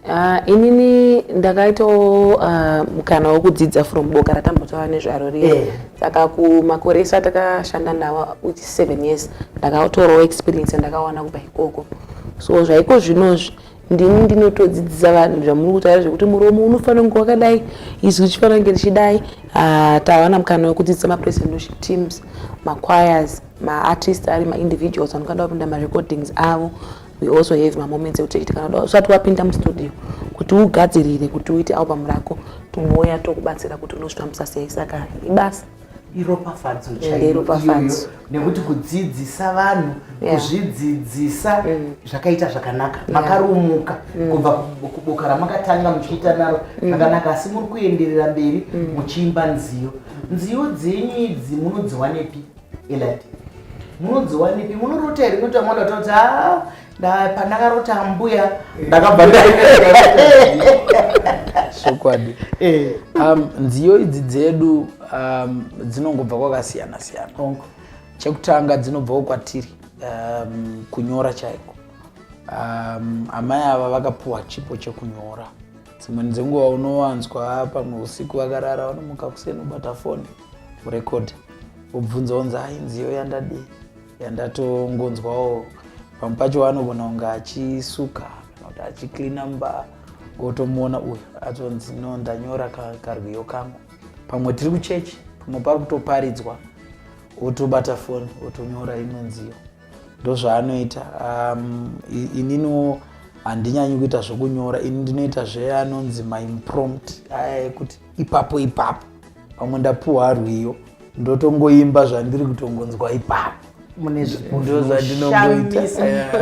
Uh, inini ndakaitawo uh, ah, mukana wekudzidza from boka ratambotaura nezvaro riya yeah. saka kumakore ese atakashanda nawo which seven years ndakatorawo experience yandakawana kubva ikoko so zvaiko zvinozvi ndini ndinotodzidzisa vanhu zvamuri kutaura zvekuti muromo unofanira kunge wakadai izwi richifanira kunge richidai uh, ah, tawana mukana wekudzidzisa mapresendoship teams machoirs maartist ari maindividuals anokanda kupinda marecordings avo we also have mamoments ekuti chiti kana uda usati wapinda mustudio kuti ugadzirire kuti uite album rako tinouya tokubatsira kuti unozvifambisa sei saka ibasa iropafadzo chairopafadzo nekuti kudzidzisa vanhu kuzvidzidzisa mm. zvakaita zvakanaka makarumuka mm. kubva kuboka ramakatanga muchiita naro mm. zvakanaka asi muri kuenderera mberi muchiimba nziyo nziyo dzenyu idzi munodziwanepi Elati. Munodziwanipi? Munorota here kuti amwe anoti kuti ah pandakarota ambuya ndakabva chokwadi eh. um, nziyo idzi dzedu um, dzinongobva kwakasiyana siyana chekutanga dzinobvawo kwatiri um, kunyora chaiko um, amai ava vakapuwa chipo chekunyora dzimweni dzenguva unowanzwa pamwe usiku vakarara vanomuka kuseni ubata foni kurecord obvunza onzi hai nziyo yandadi yandatongonzwawo pamwe pacho wanogona kunge achisuka kana kuti achicleana mba wotomuona uyu atonzi no ndanyora karwiyo kangu pamwe tiri kuchechi pamwe pari kutoparidzwa wotobata foni wotonyora imwe nziyo ndozvaanoita um, ininiwo handinyanyi kuita zvokunyora ini ndinoita zveanonzi maimprompt aya ekuti ipapo ipapo pamwe ndapuwa rwiyo ndotongoimba zvandiri kutongonzwa ipapo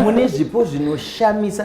mune zvipo zvinoshamisa